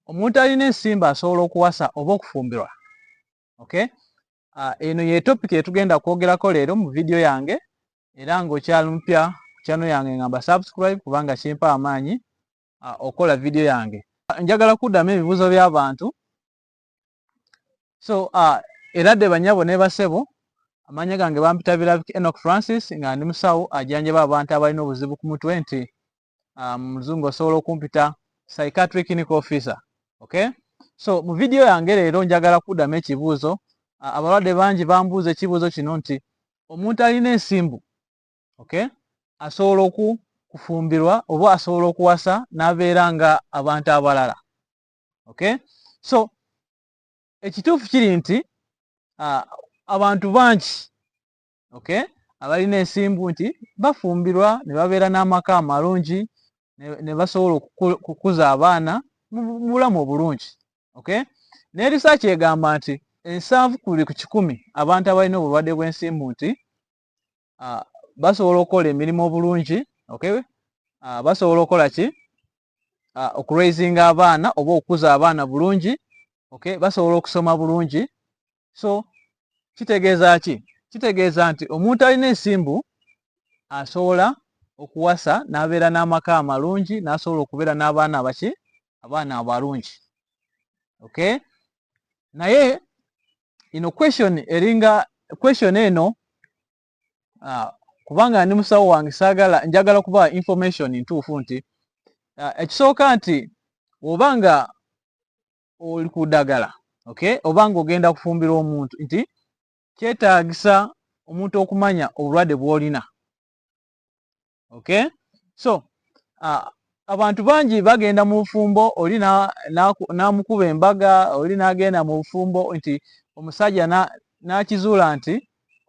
omuntu alina ensimba asobola okuwasa oba okufumbirwa okay ah, eno ye topic etugenda kwogerako leero mu vidiyo yange era ng'okyali mupya ku channel yange ngamba subscribe kubanga kimpa amaanyi ah, okola vidiyo yange njagala kuddamu ebibuuzo by'abantu so ah, era dde banyabo ne basebo amanya gange bampita birabika enok francis nga ndi musawo ajanjaba abantu abalina obuzibu ku mutwe nti muzungu um, osobola okumpita psychiatric clinical officer okay so mu vidiyo yange leero njagala kuddamu ekibuuzo uh, abalwadde bangi bambuuza ekibuuzo kino nti omuntu alina ensimbu okay asobola oku kufumbirwa oba asobola okuwasa n'abeera nga abantu abalala okay so ekituufu kiri nti uh, abantu bangi okay abalina ensimbu nti bafumbirwa ne babeera n'amaka amalungi ne basobola okukuza abaana mu bulamu obulungi okay ne risaaki egamba nti ensanvu ku buli ku kikumi abantu abalina obulwadde bw'ensimbu nti basobola okukola emirimu obulungi okay basobola okukola ki okuraisinga abaana oba okukuza abaana bulungi okay basobola okusoma bulungi so kitegeeza ki kitegeeza nti omuntu alina ensimbu asobola okuwasa n'abeera n'amaka amalungi n'asobola okubeera n'abaana abaki abaana abalungi okay naye ino question eringa question eno uh, kubanga ndi musawo wange saagala njagala kuba information ntuufu nti uh, ekisooka nti oba nga oli ku ddagala okay oba ng'ogenda kufumbira omuntu nti kyetaagisa omuntu okumanya obulwadde bw'olina okay so uh, abantu bangi bagenda mu bufumbo oli n'amukuba embaga oli n'agenda mu bufumbo nti omusajja n'akizuula nti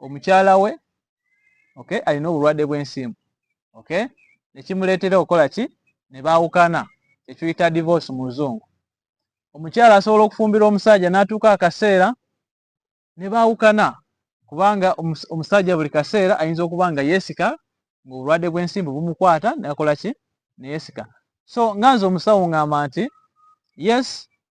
omukyala we okay alina obulwadde bw'ensimbu okay nekimuleetera okukola ki ne baawukana kyekiyita divorce mu luzungu omukyala asobola okufumbira omusajja n'atuuka akaseera ne baawukana kubanga omusajja buli kaseera ayinza okuba nga yeesika ng'obulwadde bw'ensimbu bumukwata nakola ki neyeesika so nga nze omusawo ng'amba nti yes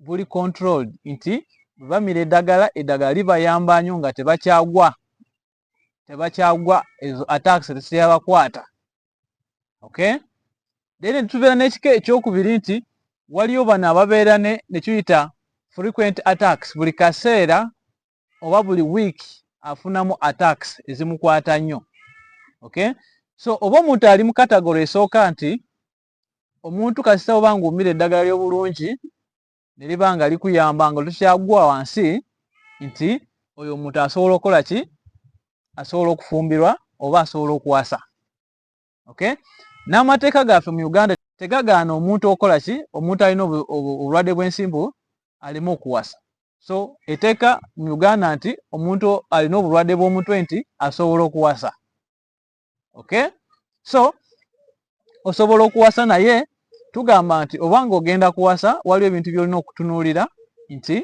guli controlled nti bamira eddagala eddagala libayamba nyo nga tebakyagwa tebakyagwa ezo attacks tesiyabakwata okay then tubeera n'ekika ekyokubiri nti waliyo bano ababeera ne nekiyita frequent attacks buli kaseera oba buli week afunamu attacks ezimukwata nnyo okay so oba omuntu ali mu katagoro esooka nti omuntu kasita oba ng'omira eddagala ly'obulungi ne liba nga likuyamba nga tokyagwa wansi nti oyo omuntu asobola okukola ki asobola okufumbirwa oba asobola okuwasa okay n'amateeka gaffe mu uganda tegagaana omuntu okola ki omuntu alina obulwadde bw'ensimbu aleme okuwasa so eteeka mu uganda nti omuntu alina obulwadde bw'omutwe nti asobola okuwasa okay so osobola okuwasa naye tugamba nti oba nga ogenda kuwasa waliwo ebintu byolina okutunuulira nti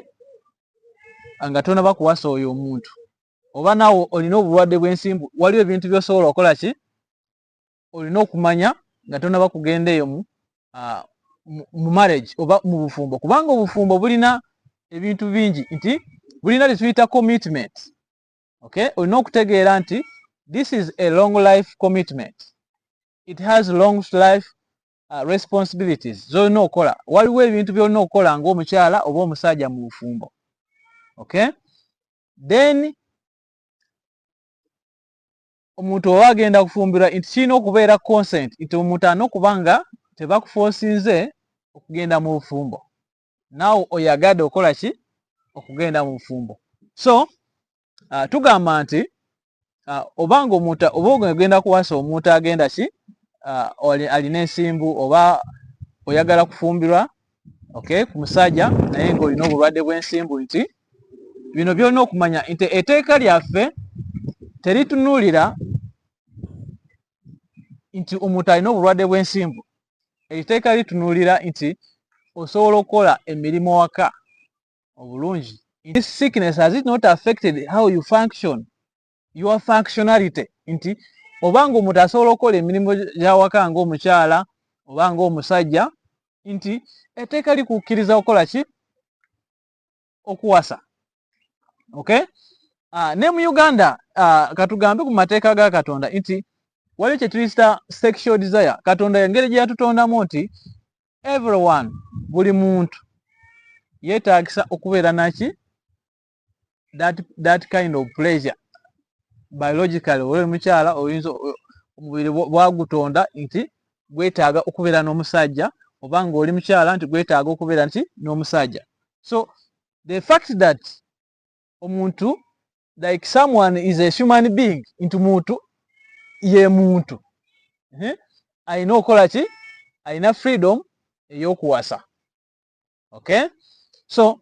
nga tonaba kuwasa oyo omuntu oba nawe olina obulwadde bwensimbu waliwo ebintu byosobola okola ki olina okumanya nga tonaba kugenda eyo mu ah, mu marriage oba mu bufumbo kubanga obufumbo bulina ebintu bingi nti bulina lituyita commitment okay olina okutegeera nti this is a long life commitment it has long life uh, responsibilities zolina okukola waliwo ebintu byolina okukola ngaomukyala oba omusajja mu bufumbo okay then omuntu oba agenda kufumbirwa nti kirina okubeera consent nti omuntu alina okuba nga tebakufosinze okugenda mu bufumbo naawe oyagade okola ki okugenda mu bufumbo so uh, tugamba nti uh, obanga omuntu oba ogenda kuwasa omuntu agenda ki uh, alina ensimbu oba oyagala kufumbirwa okay ku musajja naye ngaolina obulwadde bw'ensimbu nti bino byolina okumanya nti eteeka lyaffe teritunuulira nti omuntu alina obulwadde bw'ensimbu ekiteeka litunuulira nti osobola okukola emirimu waka obulungi this sickness has it not affected how you function your functionality nti oba nga omuntu asobola okukola emirimu gyawaka nga omukyala oba nga omusajja nti eteeka likukkiriza okukola ki okuwasa okay uh, ne mu uganda uh, katugambe ku mateeka ga katonda nti waliwo kyetuyita sexual desire katonda engeri gye yatutondamu nti everyone buli muntu yeetagisa okubeera naki that, that kind of pleasure biologically oli mukyala oyinza omubiri bwagutonda nti gwetaaga okubeera n'omusajja oba ng'oli mukyala nti gwetaaga okubeera nti n'omusajja so the fact that omuntu like someone is a human being nti muntu ye muntu alina okukola ki alina freedom ey'okuwasa okay so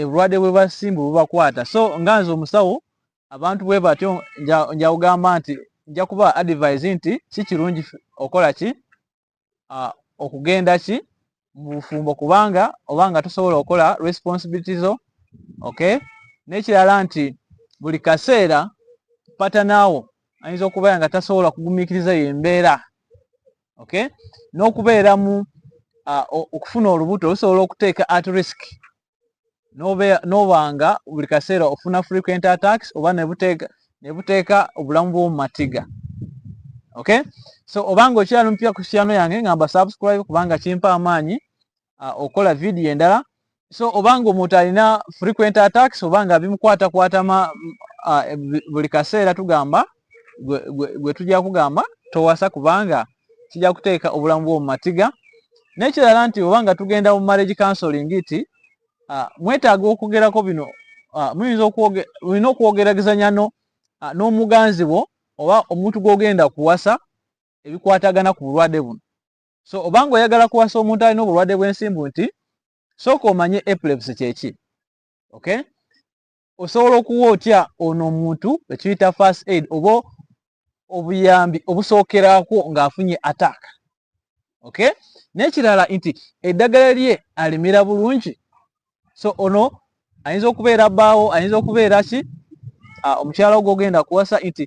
ebulwadde bwe basimbu bubakwata so nga nze omusawo abantu bwe batyo njawugamba nti nja kuba advise nti si kirungi okola ki okugenda ki mu bufumbo kubanga oba nga tosobola okukola responsibility zo okay n'ekirala nti buli kaseera patanaawo ayinza okubeera nga tasobola kugumikiriza yo embeera okay n'okubeeramu uh, okufuna olubuto lusobola okuteeka at risk n'obanga buli kaseera ofuna frequent attacks oba nebuteeka obulamu bw'omu matiga okay so obanga okyali mupya ku channel yange ngamba subscribe kubanga kimpa amaanyi uh, okola video endala so obanga omuntu alina frequent attacks obanga bimukwata kwatama uh, buli kaseera tugamba gwe tujja kugamba towasa kubanga kijja kuteeka obulamu bwo mu matiga n'ekirala nti obanga tugenda mu marriage counseling ti uh, mwetaaga okwogerako bino uh, muyinza olina okwogeragezanya uh, n'omuganzi wo oba omuntu gw'ogenda kuwasa ebikwatagana ku bulwadde buno so obanga oyagala kuwasa omuntu alina obulwadde bw'ensimbu nti sooka omanye epilepsy kyeki okay osobola okuwa otya ono omuntu ekiyita first aid oba obuyambi obusookerako ng'afunye attack okay n'ekirala nti eddagala lye alimira bulungi so ono ayinza okubeera bbaawo ayinza okubeera ki ah, omukyala ogwo ogenda kuwasa nti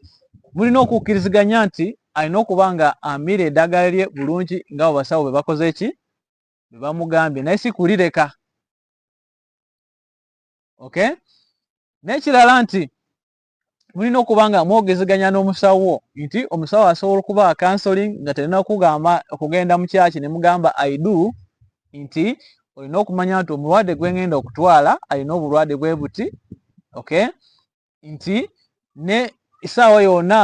mulina okukkiriziganya nti alina okuba nga amira eddagala lye bulungi nga abo basawo be bakoze eki be bamugambye naye si kulireka okay n'ekirala nti mulina okuba nga mwogezeganya n'omusawo nti omusawo asobola okuba counseling nga terina kugamba okugenda mu kyaki ne mugamba aidu nti olina okumanya nti omulwadde gwe ngenda okutwala alina obulwadde bwe buti okay nti ne esaawa yonna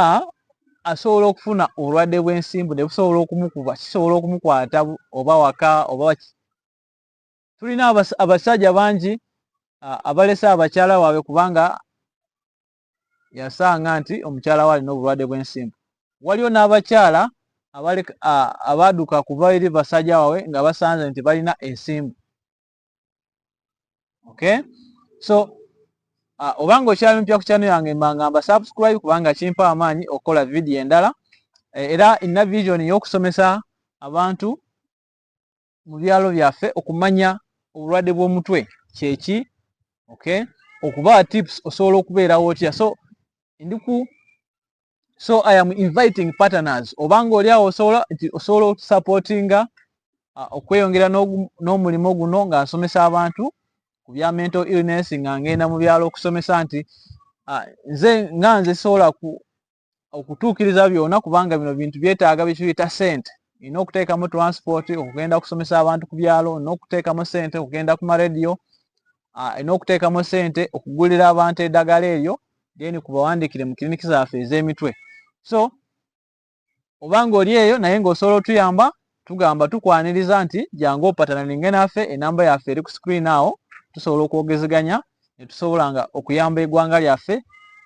asobola okufuna obulwadde bw'ensimbu ne busobola okumukuba kisobola okumukwata oba waka oba tulina abasajja bangi abalese abakyala waabwe kubanga yasanga nti omukyala we alina obulwadde bw'ensimbu waliwo n'abakyala abaaduka kuva eri basajja waabwe nga basanze nti balina ensimbu okay so uh, obanga okyali mupya ku kyano yange mbangamba subscribe kubanga kimpa amaanyi okukola vidiyo endala eh, era ina vision y'okusomesa abantu mu byalo byaffe okumanya obulwadde bw'omutwe kyeki okay okuba tips osobola okubeerawo otya so ndiku so i am inviting partners obanga oli awo osobola nti osobola otusupportinga uh, okweyongera n'omulimu guno nga nsomesa abantu ku bya mental illness nga ngenda mu byalo okusomesa nti uh, nze nga nze sobola ku okutuukiriza byona kubanga bino bintu byetaaga byekiyita sente olina okuteekamu transport okugenda okusomesa abantu ku byalo olina okuteekamu sente okugenda ku marediyo olina ah, okuteekamu sente okugulira abantu eddagala eryo then kubawandiikire mu kiriniki zaffe ez'emitwe so obanga oli eyo naye ngaosobola otuyamba tugamba tukwaniriza nti jangu opatana ninge naffe enamba yaffe eri ku screen awo tusobola okwogezeganya netusobola nga okuyamba egwanga lyaffe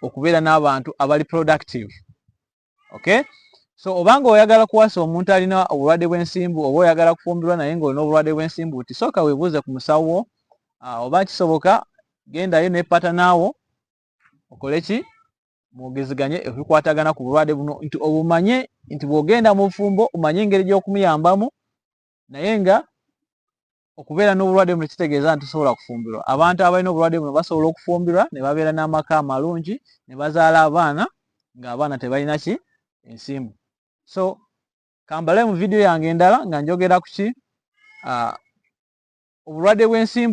okubeera n'abantu abali productive okay so obanga oyagala kuwasa omuntu alina obulwadde bw'ensimbu oba oyagala kufumbirwa naye ngaolina obulwadde bw'ensimbu ti sooka webuuze ku musawo wo ah, oba kisoboka gendayo nepata naawo okole ki mwogezeganye ebikwatagana ku bulwade buno nti obumanye nti bwogenda mu bufumbo omanye engeri gyokumuyambamu naye nga okubeera n'obulwadde buno kitegeeza nti tosobola kufumbirwa abantu abalina obulwadde buno basobola okufumbirwa ne babeera n'amaka amalungi ne bazaala abaana ng'abaana tebalina ki ensimbu so kambale mu vidiyo yange endala nga njogera ku ki ah, obulwadde bw'ensimbu